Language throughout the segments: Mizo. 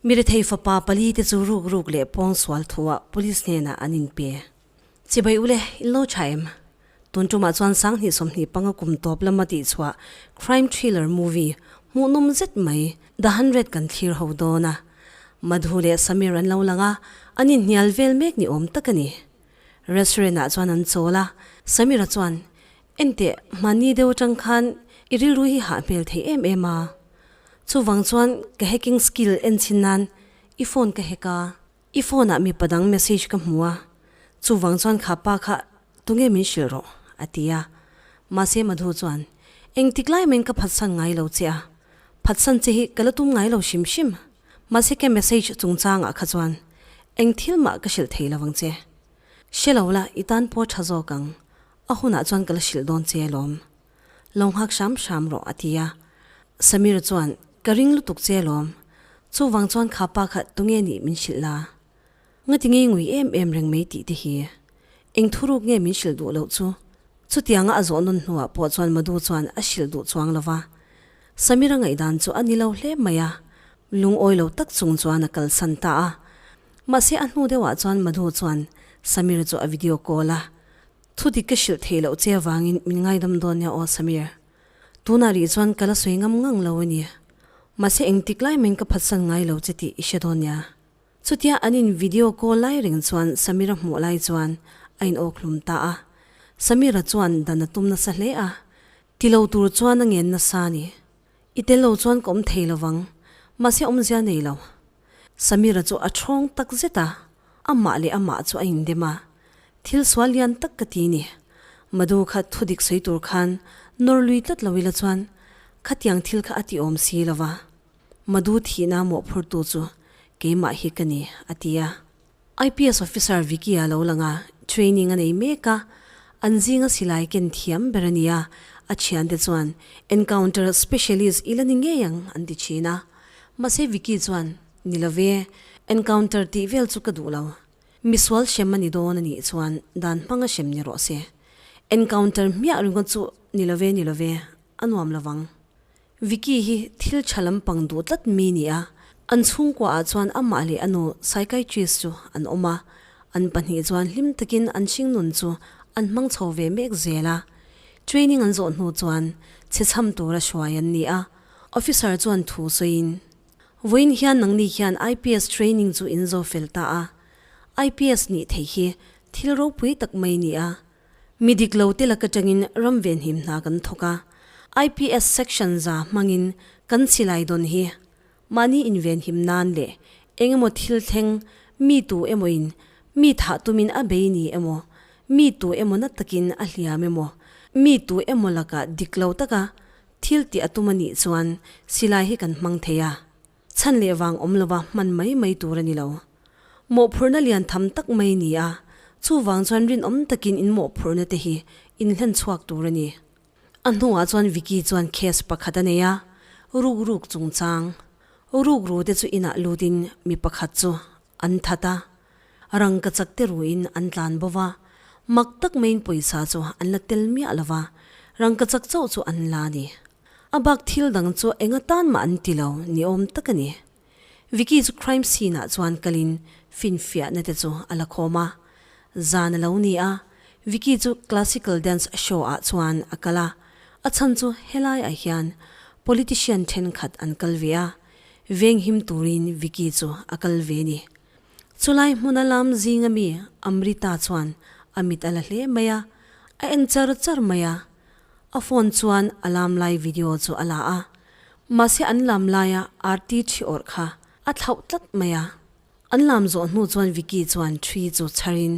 Mirethei fapa pali te chu ruk ruk leh pawng sual thu ah police hnenah an in pe. Chibai ule, in lo tha em? Tun tumah chuan sang hnih sawmhnih panga kum tawp lama tihchhuah crime thriller movie hmuh nawm zet mai The Hundred kan thlir ho dawn a. Madhu leh Sameer an lo lang a, an inhnial vel mek ni awm tak a ni. Restaurant-ah chuan an chawl a, Samir-a chuan, Ente mahni deuh atang khan i rilru hi hah hmel thei em em a, chuvang chuan ka hacking skill en chin nan i phone ka hack a, i phone-ah mipa dang message ka hmu a, chuvang chuan kha pa kha tunge min hrilh rawh? a ti a. Mahse Madhu chuan, Engtik lai main ka phatsan ngai lo che a, phatsan che hi ka la tum ngai lo hrim hrim, Mahse ka message chungchangah kha chuan eng thil mah ka hrilh thei lovang che. Hre lo la, i tan pawh tha zawk ang, a hunah chuan ka la hrilh dawn che alawm. Lo nghak hram hram rawh, a ti a. Samir chuan ka ring lutuk che alawm. Chuvang chuan kha pa kha tunge nih min hrilh la? Ngati ngei ngui em em reng mai tih te hi eng thuruk nge min hrilh duh loh chu. Chutianga a zawh nawn hnuah pawh chuan Madhu chuan a hrilh duh chuang lova. Samira ngaihdan chu a ni lo hle mai a, lungawi lo tak chung chuan a kalsan ta a. Mahse a hnu deuhah chuan Madhu chuan Samir chu a video call a, Chuti ka hrilh theih loh che avangin min ngaidam dawn nia aw Samir. Tunah rih chuan ka la sawi ngam ngang lo a ni. Mahse engtik lai main ka phatsan ngai lo che tih i hre dawn nia. Chutia an in video call lai reng chuan Samira hmuh lai chuan a in awk hlum ta a, Samira chuan dan a tum nasa hle a, tilo tur chuan a ngen nasa a ni, i tel lo chuan ka awm thei lovang, mahse awmzia nei lo. Samira chu a thrawng tak zet a, amah leh amah chu a in dem a, thil sual lian tak ka ti ni, madu kha thu dik sawi tur khan nawr lui tlat lo ila chuan khatiang thil kha a ti awm si lova. Madu thihna mawhphurtu chu keimah hi ka ni, a ti a. IPS Officer Vicky-a lo lang a, training a nei mek a, an zinga silai ken thiam ber a ni a, a thiante chuan Encounter Specialist i la ni ngei ang an ti thin a. Mahse Vicky chuan, Ni lo ve, Encounter tih vel chu ka duh lo. Misual hrem a ni dawn a nih chuan dan hmanga hrem ni rawh se. Encounter hmiah ringawt chu ni lo ve, ni lo ve, a nuam lo vang. Vicky hi thil tha lampang duh tlat mi ni a, an chhungkua ah chuan amah leh a nu psychiatrist chu an awm a, an pahnih chuan hlim takin an hringnun chu an hmang chho ve mek zel a. Training an zawh hnu chuan chhechham tura hruai an ni a, officer chuan thu sawiin, Vawiin hian nangni hian IPS training chu in zawh fel ta a, IPS nih theih hi thil ropui tak mai ni a, Mi dik lo te laka tangin ram ve hnim hna kan thawk a, IPS section za hmangin kan silai dawn hi mahni invenhim nan leh engemaw thil thleng mi tu emawiin mi thah tumin a bei ni emaw, mi tu emaw na takin a hliam emaw, mi tu emaw laka dik lo taka thil ti a tum a nih chuan silai hi kan hmang thei a. chhan leh vang awm lova hman mai mai tur a ni lo. Mawhphurhna lian tham tak mai ni a, chuvang chuan rinawm takin in mawhphurhna te hi in hlen chhuak tur a ni. A hnuah chuan Vicky chuan case pakhat a nei a, rukruk chungchang. Rukru te chu inah lutin mi pakhat chu An that a, rangka chak te ruin an tlan bo va, mak tak maiin pawisa chu an la tel miah lo va, rangka chak chauh chu an la a ni. A bak thil dang chu enga tan mah an ti lo ni awm tak a ni. Vicky chu crime scene ah chuan kalin finfiahna te chu a la khawm a. Zan a lo ni a, Vicky chu classical dance show ah chuan a kal a, a chhan chu helaiah hian politician thenkhat an kal ve a, Venghim turin Vicky chu a kal ve ni. Chulai hmun a lam zing ami Amrita chuan a mit a la hle mai a, a en char char mai a. A phone chuan a lam lai video chu a la a. Mahse an lam laia arti ṭhi awrh kha a thlauh tlat mai a. An lam zawh hnu chuan Vicky chuan ṭhi chu chharin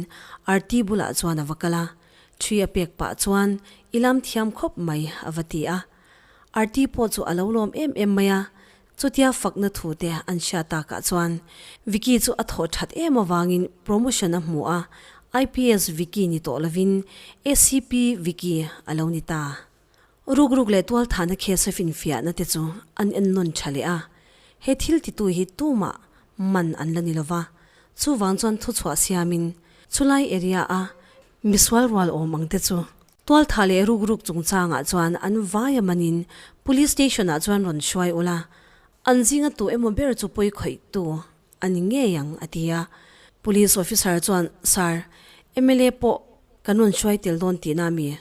arti bulah chuan a va kal a. Ṭhi a pek pah chuan i lam thiam khawp mai a va ti a. Arti pawh chu a lo lawm em em mai a, chutia fakna thu te an hria tak ah chuan Vicky chu a thawh that em avangin promotion a hmu a, IPS Vicky ni tawh lovin ACP Vicky a lo ni ta. Ruk ruk leh tual thana case a finfiahna te chu an en nawn tha leh a, he thil ti tu hi tumah man an la ni lova, chuvang chuan thuchhuah siamin chulai area a misual rualawm ang te chu Tualtha leh ruk ruk chungchangah chuan an vaia manin Police Station-ah chuan rawn hruai ula, an zinga tu emaw ber chu pawi khawihtu a ni ngei ang, a ti a. Police Officer chuan, Sir, mla pawh kan rawn hruai tel dawn tihna a mi.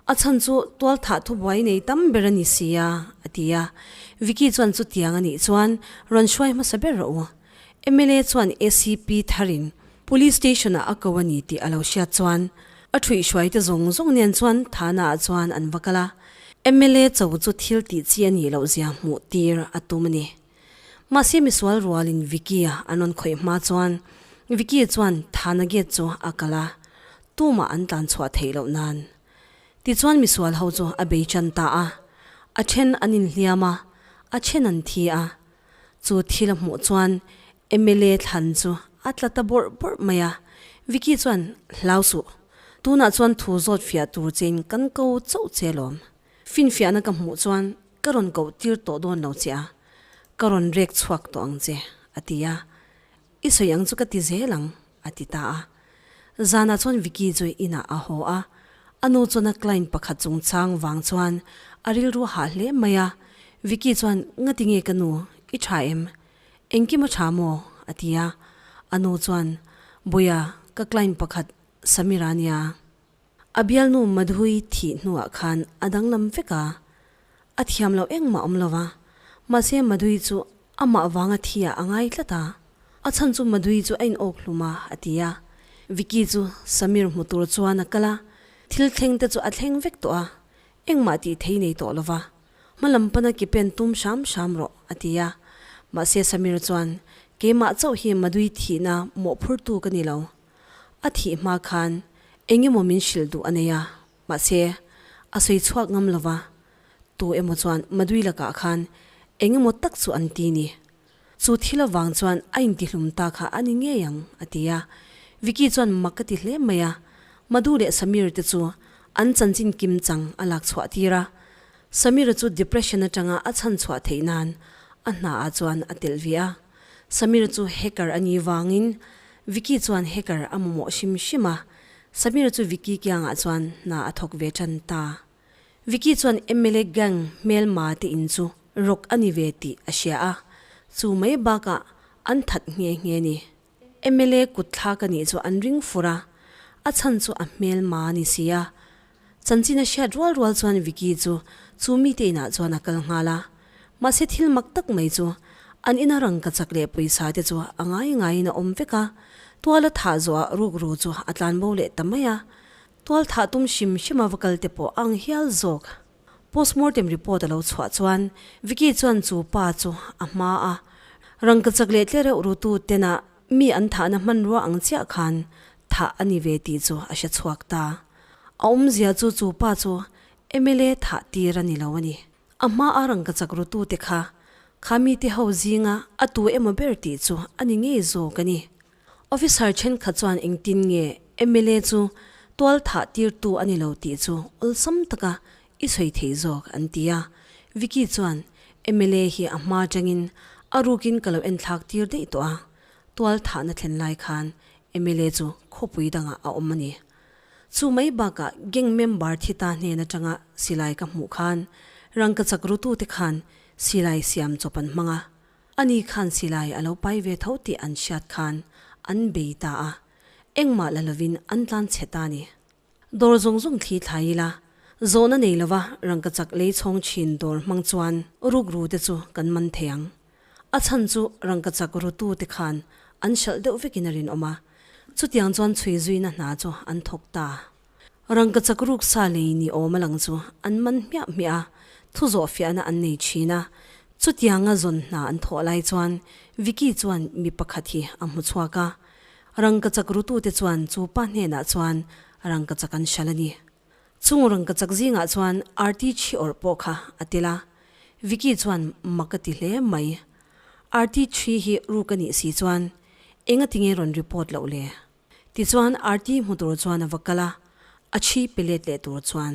A chhan chu Tualtha thubuai nei tam ber a ni sia, a ti a. Vicky chuan chutiang a nih chuan rawn hruai hmasa ber rawh u. Mla chuan acp thar in Police station ah a ko a ni tih a lo hriat chuan a thuihhruai te zawng zawng nen chuan Thana ah chuan an va kal a, mla cho chu thil tih chi a nih loh zia hmuh tir a tum a ni. Mahse misual rual in Vicky a an rawn khawih hma chuan Vicky chuan Thana gate chu a kal a, tu mah an tlan chhuah theih loh nan. Tichuan misual ho chu a bei tan ta a, a then an in hliam a, a then an thi a, Chu thil a hmuh chuan mla thlan chu a tla ta bawrh bawrh mai a. Vicky chuan, Hlau suh, tunah chuan thu zawt fiah tur chein kan ko chauh che lawm. Finfiahna ka hmuh chuan ka rawn koh tir tawh dawn lo che a, ka rawn rek chhuak tawh ang che, a ti a. I sawi ang chu ka ti zel ang, a ti ta a. Zanah chuan Vicky chu inah a haw a. A nu chuan a client pakhat chung chang vang chuan a rilru a hah hle mai a. Vicky chuan, Ngati nge ka nu, i tha em? Engkim a tha maw? a ti a. A nu chuan, Bawia, ka client pakhat Samira nia. A bialnu Madhui thih hnuah khan a danglam vek a, a thiam loh engmah awm lo va, mahse Madhui chu amah vanga thi ah a ngai tlat a, a chhan chu Madhui chu a in awk hlum a, a ti a. Vicky chu Samir hmu tur chuan a kal a, thil thleng te chu a thleng vek tawh a, engmah tih thei nei tawh lo va, hma lam pana ke pen tum hram hram rawh, a ti a. Mahse Samir chuan, Keimah chauh hi Madhui thihna mawhphurtu ka ni lo, A thih hma khan eng emaw min hrilh duh a nei a, mahse, a sawi chhuak ngam lo va, tu emaw chuan Madui lakah khan eng emaw tak chu an ti ni. Chu thil avang chuan a intihlum ta kha a ni ngei ang, a ti a. Vicky chuan mak a ti hle mai a, Madu leh Samir te chu an chanchin kim chang a lak chhuah tir a. Samir-a chu depression atanga a chhan chhuah theih nan a hna ah chuan a telh viau a. Samir chu hacker a nih vangin Vicky chuan hacker a mamawh hrim hrim a, Samir chu Vicky kiangah chuan hna a thawk ve tan ta. Vicky chuan mla gang hmelma te in chu rawk a ni ve tih a hria a, chu mai bakah an that nghe nghe ni. Mla kut thlak a nih chu an ring fur a, a chhan chu a hmelma a ni si a, Chanchin a hriat rual rual chuan Vicky chu chu mite inah chuan a kal nghal a, mahse thil mak tak mai chu an ina rangkachak leh pawisa te chu a ngai ngaiin a awm vek a, tuala thah zawhah rukru chu a tlan bo leh ta mai a, tual thah tum hrim hrima va kal te pawh a ang hial zawk. Postmortem report a lo chhuah chuan Vicky chuan chu pa chu a hma a, rangkachak leh tlereuh rutu tenah Mi an thahna hmanrua ang chiah khan thah a ni ve tih chu a hre chhuak ta. A awmzia chu chu pa chu mla thah tir a ni lo a ni. A hmaa rangkachak rutute kha kha mite ho zinga a tu emaw ber tih chu a ni ngei zawk a ni. Officer thenkhat chuan engtin nge mla chu tual thah tirtu a ni lo tih chu awlsam taka I sawi thei zawk an ti a, Vicky chuan mla hi a hma tangin a rukin ka lo en thlak tir daih tawh a, tual thahna thlen lai khan mla chu khawpui dangah a awm a ni. Chu mai bakah gang member thi ta hnen atanga silai ka hmuh khan rangkachak rutu te khan silai siam chawp an hmang a, ani khan silai a lo pai ve tho tih an hriat khan an bei ta a, engmah la lovin an tlanchhe ta a ni. Dawr zawng zawng thli thlai ila zawhna nei lova rangkachak lei chhawng thin dawr hmang chuan ruk ru te chu kan man thei ang. A chhan chu rangkachak rutu te khan an hralh deuh vekin a rinawm a, chutiang chuan chhui zuina hna chu an thawk ta. Rangkachak ruk sa lei ni awm a lang chu an man hmiah hmiah a, thu zawh fiahna an nei thin a. Chutianga zawn hna an thawh lai chuan Vicky chuan mi pakhat hi a hmu chhuak a, Rangkachak rutute chuan chu pa hnenah chuan rangkachak an hral a ni. Chung rangkachak zingah chuan Arti chhi awrh pawh kha a tel a, Vicky chuan mak a ti hle mai. Arti chhi hi ru ka nih si chuan eng a ti nge rawn report loh le? Tichuan Arti hmu tur chuan a va kal a, a chhi pe let leh tur chuan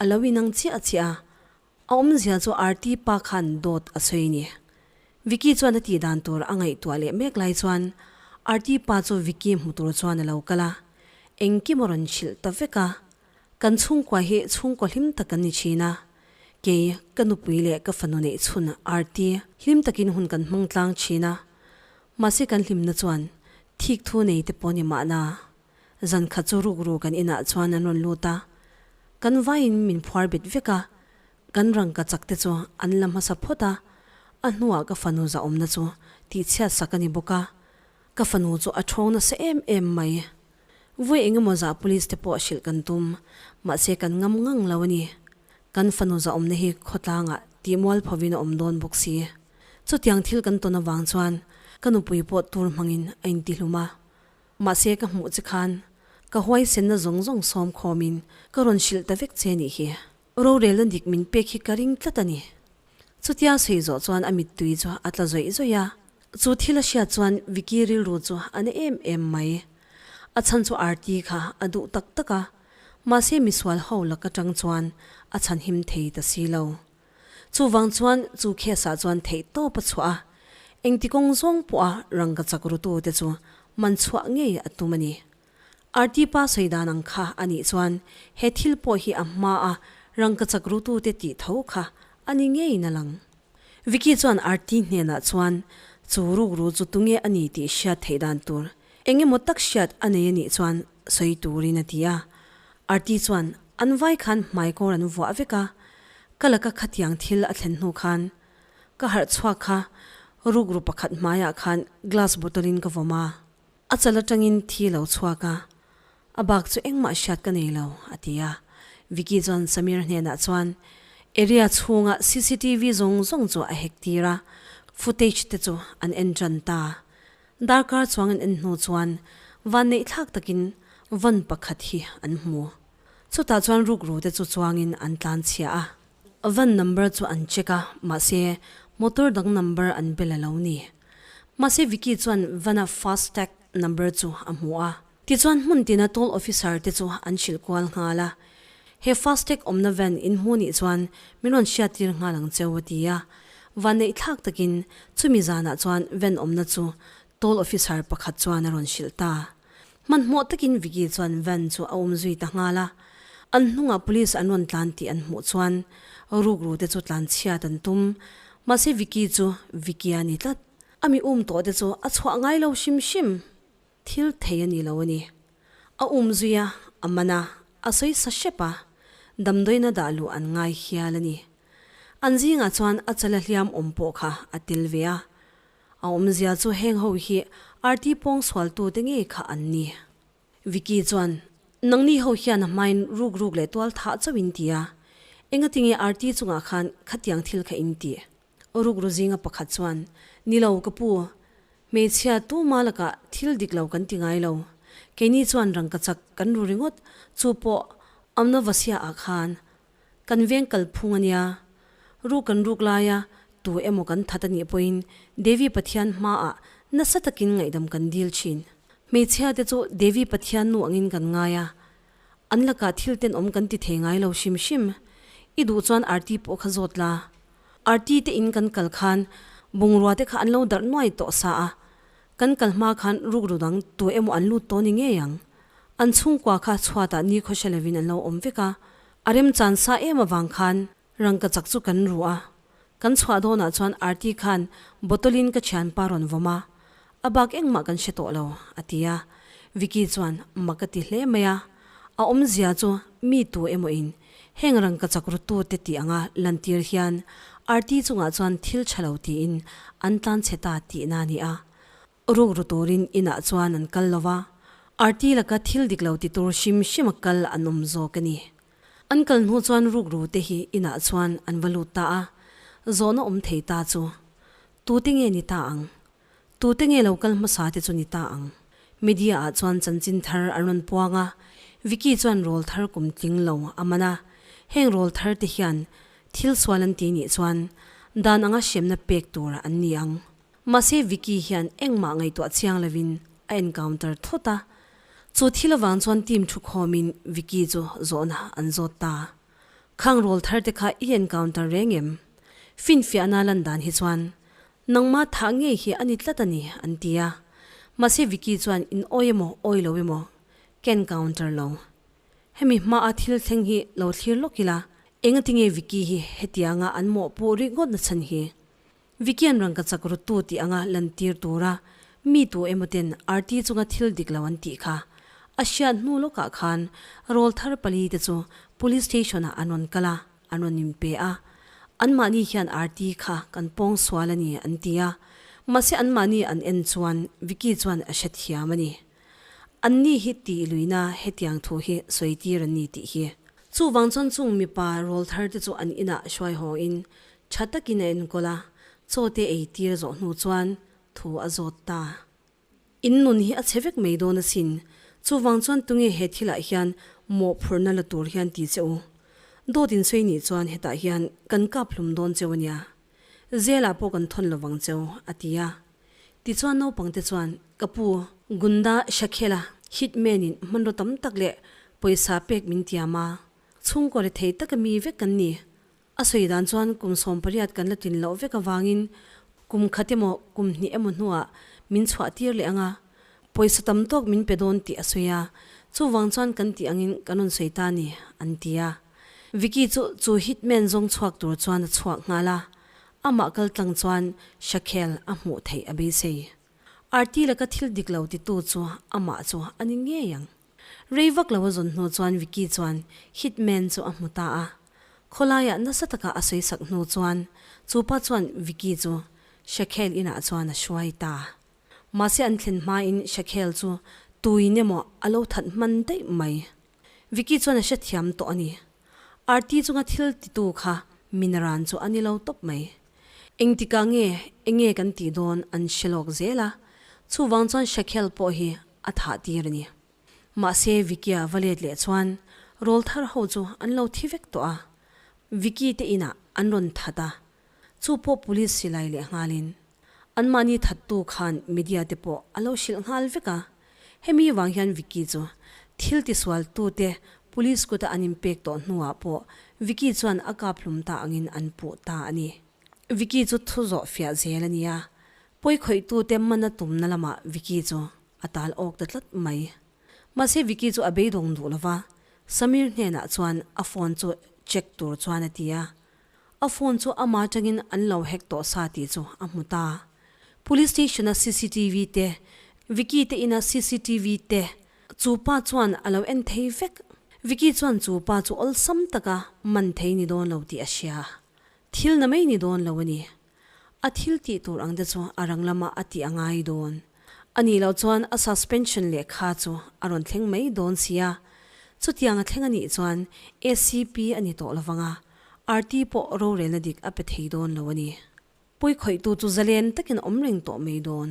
A lo inang chiah chiah a, a awmzia chu Aarti pa khan dawt a sawi ni. Vicky chuan a tih dan tur a ngaihtuah leh mek lai chuan Aarti pa chu Vicky hmu tur chuan a lo kal a, engkim a rawn hrilh ta vek a, Kan chhungkua hi chhungkaw hlim tak kan ni thin a, kei ka nupui leh ka fanu neih chhun Aarti hlim takin hun kan hmangtlang thin a, mahse kan hlimna chuan thik thu nei te pawh ni mahna Zan khat chu ruk ruk kan inah chuan an rawn lut a, kan vaiin min phuar bet vek a, kan rangka chak te chu an la hmasa phawt a, a hnuah ka fanu zah awmna chu tihchhiat sak a ni bawk a, ka fanu chu a ṭhawng nasa em em mai. Vui engemaw zah police te pawh hrilh kan tum, mahse kan ngam ngang lo a ni. Kan fanu zah awmna hi khawtlangah tihmual phovin a awm dawn bawk si. Chutiang thil kan tawn avang chuan ka nupui pawh tur hmangin a intihlum a. Mahse ka hmuh che khan ka huaisenna zawng zawng sawm khawmin ka rawn hrilh ta vek che nih hi. Rorelna dik min pek hi ka ring tlat a ni. Chutia sawi zawh chuan a mittui chu a tla zawih zawih a. Chu thil a hriat chuan Vicky rilru chu a na em em mai. A chhan chu Aarti kha a duh tak tak a. Mahse misual ho lak atang chuan a chhan him thei ta si lo. Chuvang chuan chu case ah chuan theih tawp a chhuah a, engti kawng zawng pawh a rangka chak rutu te chu man chhuah ngei a tum a ni. RT pa sawi dan ang kha a nih chuan he thil pawh hi a hma a rangka chak rutu te tih tho kha a ni ngei na lang. Vicky chuan RT hnenah chuan chu rukru chu tunge a ni tih hriat theih dan tur Eng emaw tak hriat a nei a nih chuan sawi turin a ti a, Arti chuan an vai khan hmai kawr an vuah vek a, ka la ka khatiang thil a thlen hnu khan ka harh chhuak kha rukru pakhat hmaiah khan glass bottle in ka vawm a, a chal atangin thi lo chhuak a, a bak chu engmah hriat ka nei lo a ti a, Vicky chuan Sameer hnenah chuan area chhunga cctv zawng zawng chu a hek tir a, footage te chu an en tan ta. Darkar chuangin an hnu chuan vanneih thlak takin van pakhat hi an hmu. Chutah chuan rukrute chu chuangin an tlanchhia a. Van number chu an check a, mahse motor dang number an bel a lo ni. Mahse Vicky chuan van-a fast tag number chu a hmu a. Tichuan hmun tina toll officer te chu an hrilh kual nghal a, he Fastag awmna van in hmu nih chuan min rawn hriattir nghal ang cheu a ti a. Vanneih thlak takin chumi zanah chuan van awmna chu toll officer pakhat chuan a rawn hrilh ta. Hmanhmawh takin Vicky chuan van chu a um zui ta nghal a. An hnungah police an rawn tlan tih an hmuh chuan rukru te chu tlan chhiat an tum. Mahse Vicky chu Vicky a ni tlat. A mi um tawh te chu a chhuah ngai lo hrim hrim. Thil thei a ni lo a ni. A um zui a, a man a, a sawi sa hrep a, damdawina dah luh an ngai hial a ni. An zingah chuan a chala hliam awm pawh kha a tel ve a. A awmzia chu heng ho hi RT pawng sualtu te ngei kha an ni. Vicky chuan, Nangni ho hian a hmain ruk ruk leh tual thah chauh in ti a, engatinge RT chungah khan khatiang thil kha in ti? Uruk ruzinga pakhat chuan, Nilo ka pu, hmeichhia tuma lakah thil dik lo kan ti ngai lo. Keini chuan rangkachak kan ru ringawt, chu pawh Amnavasia ah khan kan veng kal phung a nia. Ru kan ruk laia tu emaw kan that a nih pawhin Devi Pathian hmaah nasa takin ngaihdam kan dil thin. Hmeichhia te chu Devi Pathian nu angin kan ngai a, An lakah thil ten awm kan ti thei ngai lo hrim hrim. I duh chuan arti pawh kha zawt la. Arti te in kan kal khan bungrua te kha an lo darh nuai tawh sa a. Kan kal hma khan rukru dang tu emaw an lut tawh ni ngei ang. An chhungkua kha chhuatah nikhawhre lovin an lo awm vek a. A remchan sa em avang khan Rangka chak chu kan ruh a, kan chhuah dawnah chuan Arti khan bottle in ka thianpa rawn vawm a, a bak engmah kan hre tawh lo, a ti a. Vicky chuan mak a ti hle mai a, a awmzia chu mi tu emawiin heng rangka chak ruttute tih anga lantir hian Arti chungah chuan thil tha lo tiin an tlanchhe ta tihna a ni a. Rukru turin inah chuan an kal lo va, Arti laka thil dik lo ti tur hrim hrima kal an awm zawk a ni. An kal hnu chuan rukru te hi inah chuan an va lut ta a, zawhna awm thei ta chu tute nge ni ta ang? Tute nge lo kal hmasa te chu ni ta ang? Media ah chuan chanchin thar an rawn puang a, Vicky chuan rawl thar kum tling lo a man a, heng rawl thar te hian thil sual an ti nih chuan dan anga hriamna pek tur an ni ang. Mahse Vicky hian engmah ngaihtuah chiang lovin a encounter thawt a, chu thil avang chuan team thu khawmin Vicky chu zawhna an zawt ta. Khang rawl thar te kha i encounter reng em? Finfiahna lan dan hi chuan, Nangma thah ngei hi a ni tlat a ni, an ti a. Mahse Vicky chuan in awi emaw awi lo emaw ka encounter lo. Hemi hmaah thil thleng hi lo thlir lawk ila, engatinge Vicky hi hetianga an mawhpuh rih ngawt nachhan hi? Vikian rangkachak ruttu tih anga lantir tura mi tu emaw ten arti chunga thil dik lo an tih kha. A hriat hnu lawkah khan rawl thar pali te chu Police Station ah an rawn kal a, an rawn inpe a. Anmahni hian arti kha kan pawng sual a ni an ti a. Mahse anmahni an en chuan Viki chuan a hret hiam a ni. Anni hi tih luina hetiang thu hi sawitir an ni tih hi. Chuvang chuan chung mipa rawl thar te chu an inah hruaihaw in Tha takin a enkawl a, chaw te ei tir zawh hnu chuan thu a zawt ta. In nun hi a chhe vek mai dawn asin, chuvang chuan tunge he thil ah hian mawhphurhna la tur hian ti che u. Dawt in sawi nih chuan hetah hian kan kap hlum dawn che ania, zel ah pawh kan thawn lo vang che a ti a. Ti chuan naupang te chuan ka pu, Gunda Shakhela, hit man in hmanraw tam tak leh pawisa pek min tiam a, chhungkaw leh thei taka mi vek kan ni, A sawi dan chuan kum sawm pariat kan la tin loh vek avangin kum khat emaw kum hnih emaw hnuah min chhuah tir leh ang a, pawisa tam tawk min pe dawn tih a sawi a, chuvang chuan kan tih angin kan rawn sawi ta a ni, an ti a. Vicky chu chu hitman zawng chhuak tur chuan a chhuak nghal a, amah kal tlang chuan Shaquel a hmuh theih a beisei. Arti laka thil dik lo ti tu chu amah chu a ni ngei ang. Rei vak lo a zawn hnu chuan Vicky chuan hit man chu a hmu ta a. Khawlaiah nasa taka a sawi sak hnu chuan chupa chuan Vicky chu Shaquel inah chuan a hruai ta. Mahse an thlen hmain Shaquel chu tuin emaw a lo that hman daih mai. Vicky chuan a hrethiam tawh a ni. Arti chunga thil titu kha min ran chu a ni lo tawp mai. Engtikah nge enge kan tih dawn an hre lawk zel a. Chuvang chuan Shaquel pawh hi a thah tir a ni. Mahse Vicky-a va let leh chuan rawl thar ho chu an lo thi vek tawh a, Vicky te inah an rawn that a, chu pawh police silai leh nghalin. Anmahni thattu khan media te pawh a lo hrilh nghal vek a, hemi vang hian Vicky chu thil tisualtute police kuta an inpek tawh hnuah pawh Vicky chuan a kaphlum ta angin an puh ta a ni. Vicky chu thu zawh fiah zel a nia, pawi khawitute mana tumna lamah Vicky chu a tal awk ta tlat mai. Mahse Vicky chu a beidawng duh lo va, Sameer hnenah chuan a phone chu check tur chuan a ti a, a phone chu ama atangin an lo hack tawh sa tih chu a hmu ta. Police station-a cctv te, Vicky te ina cctv te chu pa chuan a lo en thei vek. Vicky chuan chu pa chu awlsam taka man thei ni dawn lo tih a hria. Thil na mei ni dawn lo a ni. A thil tih tur ang te chu a rang lamah a tih a ngai dawn. A nih loh chuan a suspension lehkha chu a rawn thleng mai dawn sia. Chutiang a thleng a nih chuan acp a ni tawh lovang a, RT pawh rorelna dik a pe thei dawn lo a ni. Puikhawihtu chu zalen takin awm reng tawh mai dawn.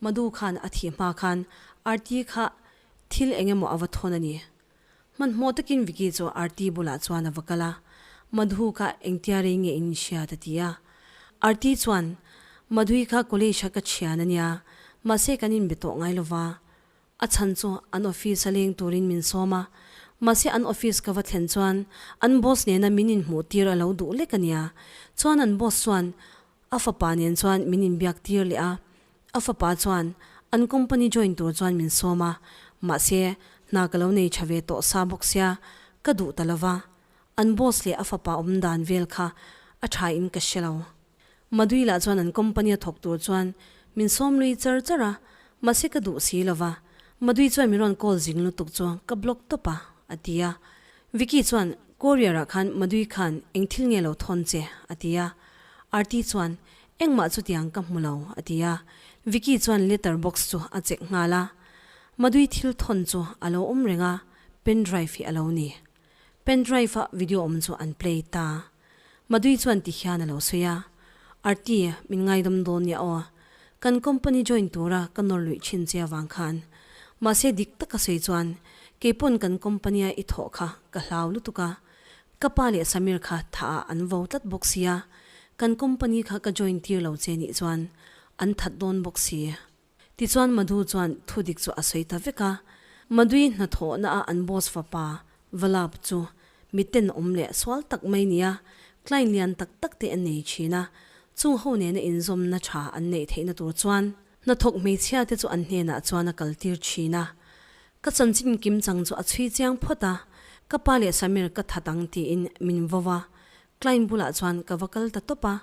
Madu khan a thih hma khan Arti kha thil eng emaw a va thawn a ni. Hmanhmawh takin Vicky chu Arti bulah chuan a va kal a, Madhu kha engtia rei nge in hriat? a ti a. Arti chuan, Madhu-i kha college-a ka thian a nia, mahse kan inbe tawh ngai lo va. A chhan chu an office a leng turin min sawm a, mahse an office ka va thlen chuan an boss nena min inhmuh tir a lo duh lek a nia. Chuan an boss chuan a fapa nen chuan min inbiak tir leh a, a fapa chuan an company join tur chuan min sawm a, mahse hna ka lo nei tha ve tawh sa bawk sia, ka duh ta lo va. An boss leh a fapa awm dan vel kha a thain ka hre lo. Madui lah chuan an company a thawk tur chuan min sawm lui char char a, mahse ka duh si lo va, Madui chuan min rawn call zing lutuk chu ka block tawp a, a ti a. Vicky chuan, Courier ah khan Madui khan eng thil nge lo thawn che? a ti a. Aarti chuan, Engmah chutiang ka hmu lo, a ti a. Vicky chuan letter box chu a check nghal a. Madui thil thawn chu a lo awm reng a, pen drive hi a lo ni, Pen drive ah video awm chu an play ta. Madui chuan ti hian a lo sawi a, Arti, min ngaidam dawn nia aw. Kan company join tura ka nawr luih thin che avang khan. Mahse dik tak a sawi chuan, Kei pawn kan company a i thawh kha ka hlau lutuk a. Ka pa leh Samir kha tha ah an vo tlat bawk si a, kan company kha ka join tir lo che nih chuan an that dawn bawk si. Tichuan Madhu chuan thu dik chu a sawi ta vek a, Madhu-i hnathawhna a an boss fapa Vallabh chu mi tenawm leh sual tak mai nia client lian tak tak te an nei thin a, chung ho nena inzawmna tha an neih theihna tur chuan hnathawk hmeichhia te chu an hnenah chuan a kal tir thin a, ka chanchin kim chang chu a chhui chiang phawt a, ka pa leh Sameer ka that ang tiin min vo va, client bulah chuan ka va kal ta tawp a,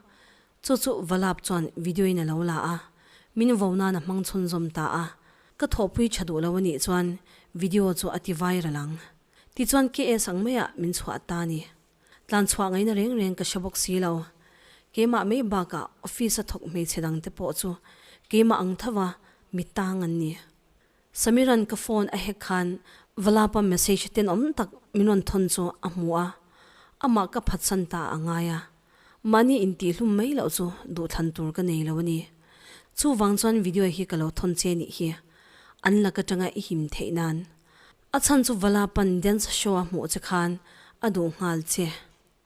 Chu chu va lap chuan video in a lo la a, min vo nan a hmang chhunzawm ta a, ka thawhpui tha duh lo a nih chuan video chu a ti viral ang. Tichuan KS ang maia min chhuah ta ni. Tlan chhuah ngaina reng reng ka hre bawk si lo. Keimah mai bakah office a thawk hmeichhe dangte pawh chu keimah ang thova mi tang an ni. Samiran ka phone a hack khan va lapa message ten awm tak min rawn thawn chu a hmu a, amah ka phatsan ta a ngai a, mahni intihhlum mai loh chu duhthlan tur ka nei lo a ni. Chuvang chuan video hi ka lo thawn che nih hi, an lak atanga i him theih nan. A chhan chu va lapan dance show a hmuh che khan a duh nghal che.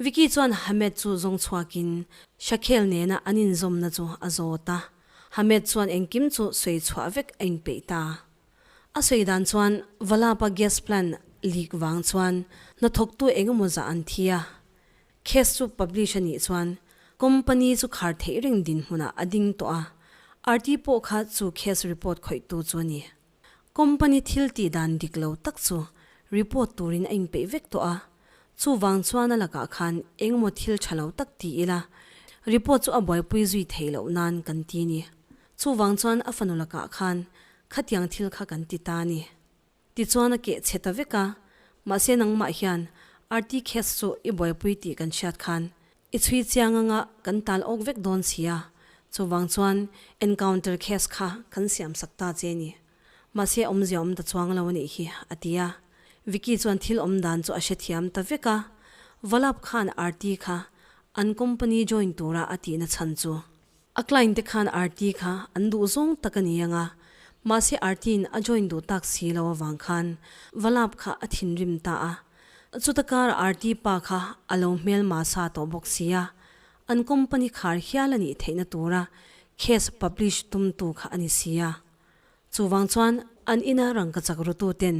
Vicky chuan Hamed chu zawng chhuakin Shakhel nena an inzawmna chu a zawt a, Hamed chuan engkim chu sawi chhuah vek a inpeih ta. A sawi dan chuan Valapa gas plant leak vang chuan hnathawktu engemaw zah an thi a, case chu publish a nih chuan company chu khar theih reng dinhmunah a ding tawh a, RT pawh kha chu case report khawihtu chu a ni. Company thil tih dan dik lo tak chu report turin a inpeih vek tawh a, chuvang chuan a lakah khan engemaw thil tha lo tak ti ila report chu a buaipui zui theih loh nan kan ti ni. Chuvang chuan a fanu lakah khan khatiang thil kha kan ti ta ni. Tichuan a keh chhe ta vek a, mahse nangmah hian RT case chu i buaipui tih kan hriat khan I chhui chiang anga kan tal awk vek dawn si a, chuvang chuan encounter case kha kan siam sak ta che ni. Mahse awmzia awm ta chuang lo a nih hi, a ti a. Vicky chuan thil awm dan chu a hrethiam ta vek a, Valap khan Aarti kha an company join tura a tihna chhan chu. A client te khan RT kha an duh zawng tak a ni ang a, mahse RT in a join duh tak si lo avang khan va lap kha a thinrim ta a. Chuta kar RT pa kha a lo hmel ma sa tawh bawk si a, an company khar hial a nih theihna tura case publish tum tu kha a ni si a. Chuvang chuan an ina rangkachak rutu ten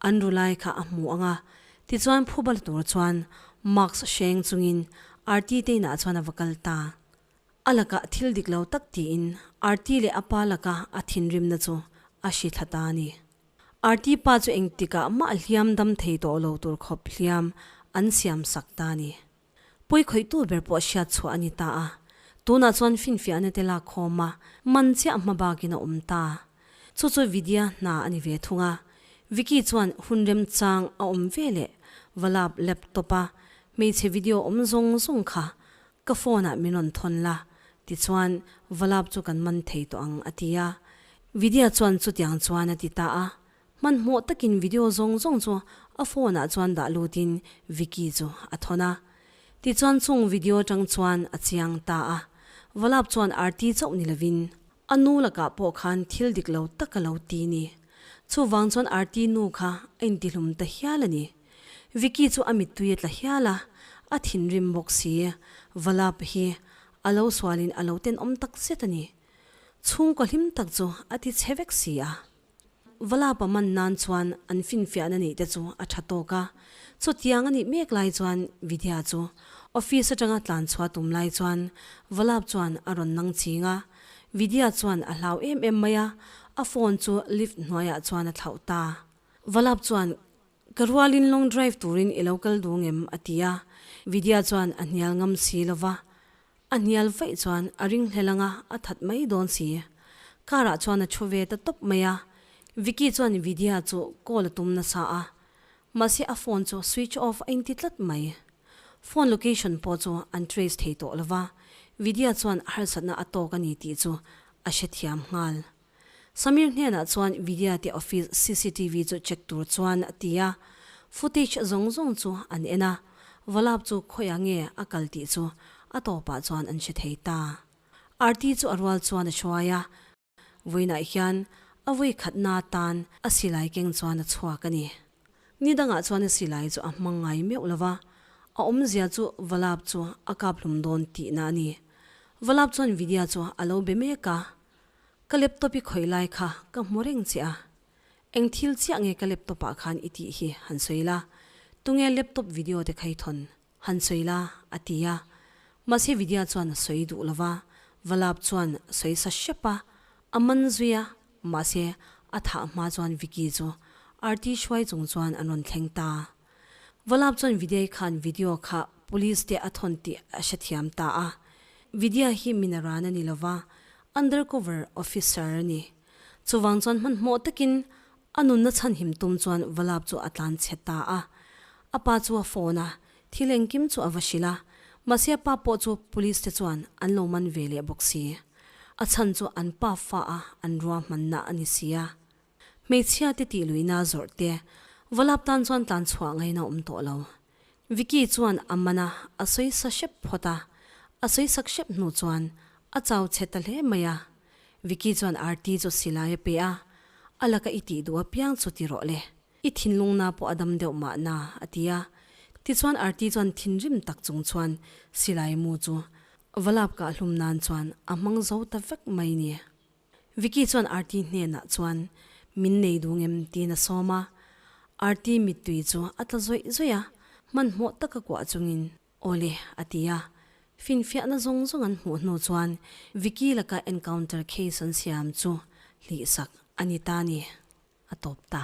an ru lai kha a hmu ang a, tichuan phu bal tur chuan Marks hreng chungin RT te inah chuan a va kal ta. A lakah thil dik lo tak tiin Aarti leh a pa laka a thinrimna chu a hri thla ta a ni. Aarti pa chu engtikah mah hliam dam thei tawh lo tur khawp hliam an siam sak ta a ni. Pawi khawihtu ber pawh hriat chhuah a ni ta a, tunah chuan finfiah nete lak khawm a, man chiah hma bakin a awm ta. Chu chu Vidya hna a ni ve thung a, Vicky chuan hun remchang a awm veleh Valap laptop-a hmeichhe video awm zawng zawng kha Ka phone ah min rawn thawn la, tichuan Valap chu kan man thei tawh ang, a ti a. Vidya chuan chutiang chuan a ti ta a, hmanhmawh takin video zawng zawng chu a phone ah chuan dah lutin Vicky chu a thawn a. Tichuan chung video atang chuan a chiang ta a. Valap chuan arti chauh ni lovin, A nu lakah pawh khan thil dik lo tak a lo ti ni. Chuvang chuan arti nu kha a intihlum ta hial a ni. Vicky chu a mittui a tla hial a, a thinrim bawk si. Valap hi a lo sualin a lo tenawm tak zet a ni. Chhungkaw hlim tak chu a ti chhe vek si a. Valap a man nan chuan an finfiahna neih te chu a tha tawk a. Chutiang a nih mek lai chuan Vidya chu office atanga tlan chhuah tum lai chuan Valap chuan a rawn nang ching a. Vidya chuan a hlau em em mai a, a phone chu lift hnuaiah chuan a thlauh ta. Valap chuan Ka rualin long drive turin i lo kal dûng em? a ti a, Vidya chuan a hnial ngam si lo va, a hnial vaih chuan a ring hlel anga a that mai dâwn si. Car-ah chuan a ṭhu ve ta tawp mai a, Vicky chuan Vidya chu call a tum nasa a, mahse a phone chu switch off a inti tlat mai. Phone location pawh chu an trace thei tawh lo va, Vidya chuan harsatna a tâwk a ni tih chu a hrethiam nghal. Samir hnenah chuan Vidyatia office CCTV chu check tur chuan a ti a, footage zawng zawng chu an en a, Vallabh chu khawiah nge a kal tih chu a tawpah chuan an hre thei ta. Aarti chu a rual chuan a hruai a, vawiinah hian a vawi khatna atan a silai keng chuan a chhuak a ni. Nidangah chuan a silai chu a hmangaih meuh lo va, a awmzia chu Vallabh chu a kap hlum dawn tihna a ni. Vallabh chuan Vidya chu a lo be mek a, Ka laptop i khawih lai kha ka hmu reng che a, eng thil chiah nge ka laptop ah khan i tih hi han sawi la, tunge laptop video te kha i thawn han sawi la a ti a, mahse Vidya chuan sawi duh lova, Valap chuan sawi sa hrep a, a man zui a, mahse a thah hma chuan Vicky chu Arti hruai chung chuan an rawn thleng ta. Vawlap chuan Vidya-i khan video kha police te a thawn tih a hrethiam ta a. Vidya hi mina ran a ni lo va, undercover officer a ni. Chuvang chuan hmanhmawh takin a nunna chhanhim tum chuan Vawlap chu a tlan chhe ta a. A pa chu a phone a, thil engkim chu a va hrilh a. Mahse a pa pawh chu police te chuan an lo man ve leh bawk si. A chhan chu an pa fa a an ruahmanna a ni sia. Hmeichhia te tih luihna zawrh te Volap tan chuan tlan chhuah ngai na awm tawh lo. Vicky chuan a man a a sawi sa hrep phawt a, a sawi sak hrep hnu chuan a chau chhe ta hle mai a. Vicky chuan Arti chu silai a pe a, a laka i tih duh apiang chu ti rawh le, i thinlung na pawh a dam deuh mah na a ti a. Tichuan Arti chuan thinrim tak chung chuan silai mu chu Volap kah hlum nan chuan a hmang zo ta vek mai ni. Vicky chuan Aarti hnenah chuan, Min nei dung em? tiin a sawm a. Aarti mittui chu a tla zawih zawih a, hmanhmawh tak a kuah chungin, Aw le, a ti a. Finfiahna zawng zawng an hmuh hnu chuan Vicky laka encounter case an siam chu hlihsak a ni ta ni, a tawp ta.